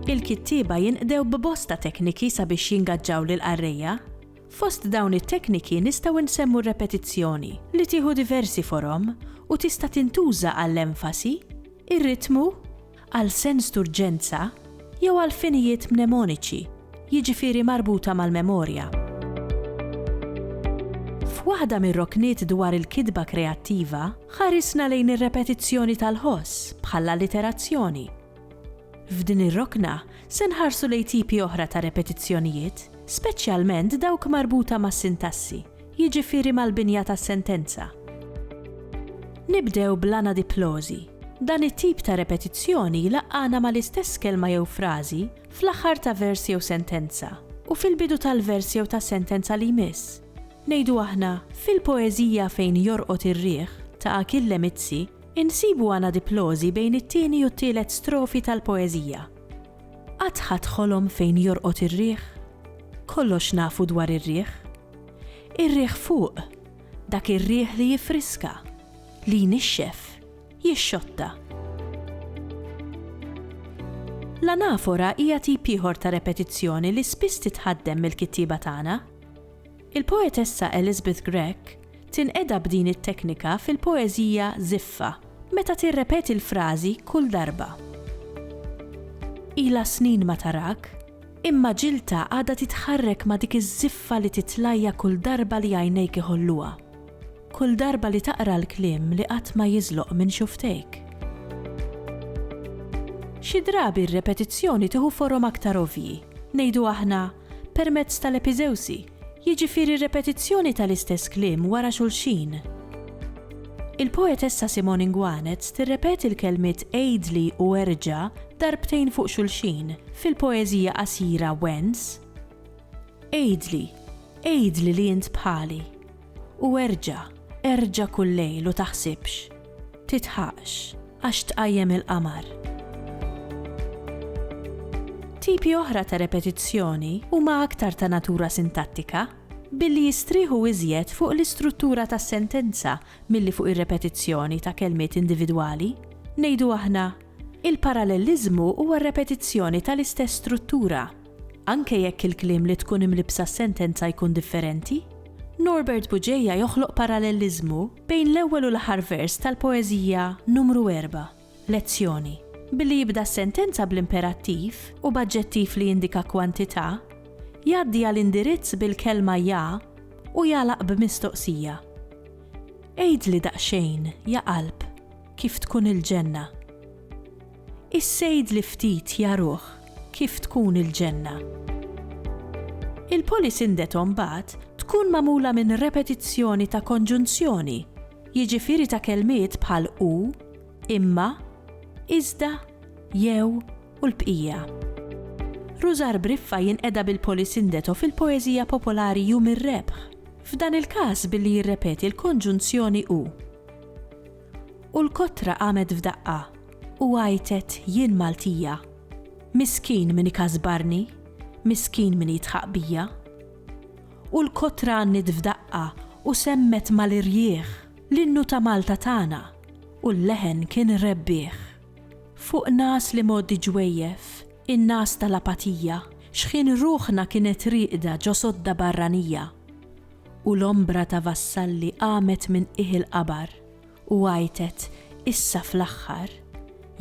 Il-kittieba jinqdew b'bosta tekniki sabiex jingaġġaw lill-qarrejja. Fost dawn it-tekniki nistgħu nsemmu r-repetizzjoni, li tieħu diversi forom u tista' tintuża għall-enfasi, ir-ritmu, għal sens d'urġenza jew għal finijiet mnemoniċi, jiġifieri marbuta mal-memorja. F'waħda mir-rokniet dwar il-kitba kreattiva, ħarisna lejn ir-repetizzjoni tal-ħoss bħall-alliterazzjoni. F'din ir-rokna se nħarsu lejn tipi oħra ta' repetizzjonijiet, speċjalment dawk marbuta mas-sintassi. jiġifieri mal-binja tas-sentenza. Nibdew bl-anadiplożi. Dan it-tip ta' repetizzjoni jlaqqagħna mal-istess kelma jew frażi fl-aħħar ta' vers jew sentenza, u fil-bidu tal-vers jew tas-sentenza li jmiss. Ngħidu aħna, fil-poeżija Fejn jorqod ir-riħ, ta' Achille Mizzi, insibu anadiplożi bejn it-tieni u t-tielet strofi tal-poeżija. Qatt ħadt ħolom fejn jorqod ir-riħ? Kollox nafu dwar ir-riħ. Ir-riħ fuq, dak ir-riħ li jiffriska, li jnixxef, jixxotta. L-anafora hija tip ieħor ta' repetizzjoni li spiss titħaddem mill-kittieba tagħna. Il-poetessa Elizabeth Grech tinqeda b'din it-teknika fil-poeżija Żiffa meta tirrepeti l-frażi kull darba. Ilha snin ma tarak, imma ġiltha għadha titħarrek ma' dik iż-żiffa li titlajha kull darba li għajnejk iħolluha, kull darba li taqra l-kliem li qatt ma jiżloq minn xufftejk. Xi drabi r-repetizzjoni tieħu forom aktar ovvji, ngħidu aħna, permezz tal-epiżewsi, jiġifieri r-repetizzjoni tal-istess kliem wara xulxin. Il-poetessa Simone Nguanez tirrepeti l-kelmiet għidli u erġa' darbtejn fuq xulxin fil-poeżija qasira Wens? Għidli, għidli li int bħali. U erġa', erġa' kull lejl u taħsibx, tidħaqx, għax tqajjem il-qamar. Tipi oħra ta' repetizzjoni huma aktar ta' natura sintattika, billi jistrieħu iżjed fuq l-istruttura tas-sentenza milli fuq ir-repetizzjoni ta' kelmiet individwali. Ngħidu aħna, Il-paralleliżmu huwa r-repetizzjoni tal-istess struttura. Anke jekk il-kliem li tkun imlibbsa s-sentenza jkun differenti, Norbert Buġeja joħloq paralleliżmu bejn l-ewwel u l-aħħar vers tal-poeżija Numru Erbgħa, Lezzjoni, billi jibda s-sentenza bl-imperattiv u b'aġġettiv li jindika kwantità, jgħaddi għal indirizz bil-kelma ja u jagħlaq b'mistoqsija. Għidli daqsxejn, ja qalb, kif tkun il-ġenna? Is-sejd li ftit jaruh kif tkun il-ġenna. Il-polisindeto mbagħad tkun magħmula minn repetizzjoni ta' konġunzjoni, jiġifieri ta' kelmiet bħal u, imma, iżda, jew u l-bqija. Rużar Briffa jinqeda bil-polisindeto fil-poeżija popolari Jum ir-Rebħ, f'dan il-każ billi jirrepeti l-konġunzjoni u. U l-kotra qamet f'daqqa u għajtet jien Maltija. Miskin min ikasbarni, miskin min jidħaq bija. U l-kotra għanniet f'daqqa u semmet mal-irjieħ l-innu ta' Malta tagħna u l-leħen kien rebbieħ. Fuq nas li mgħoddi ġwejjef, in-nas tal-apatija, xħin ruħna kienet rieqda ġo sodda barranija. U l-ombra ta' vassalli qamet minn qiegħ il-qabar, u għajtet, Issa fl-aħħar,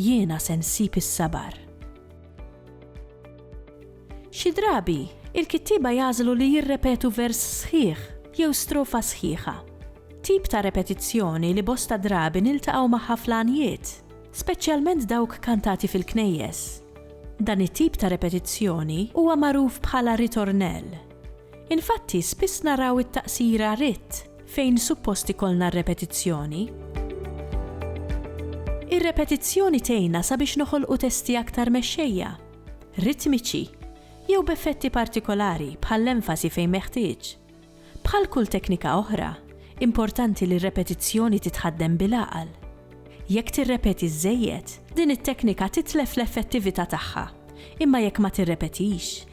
jiena se nsib is-sabar. Xi drabi, il-kittieba jagħżlu li jirrepetu vers sħiħ jew strofa sħiħa. Tip ta' repetizzjoni li bosta drabi niltaqgħu magħha fl-għanjiet, speċjalment dawk kantati fil-knejjes. Dan it-tip ta' repetizzjoni huwa magħruf bħala ritornell, Infatti spiss naraw it-taqsira ritt fejn suppost ikollna r-repetizzjoni. Ir-repetizzjoni tgħinna sabiex noħolqu testi aktar mexxejja, ritmiċi, jew b'effetti partikolari bħall-enfasi fejn meħtieġ. Bħal kull teknika oħra, importanti li r-repetizzjoni titħaddem bil-għaqal. Jekk tirrepeti żżejjed, din it-teknika titlef l-effettività tagħha, imma jekk ma tirrepetix,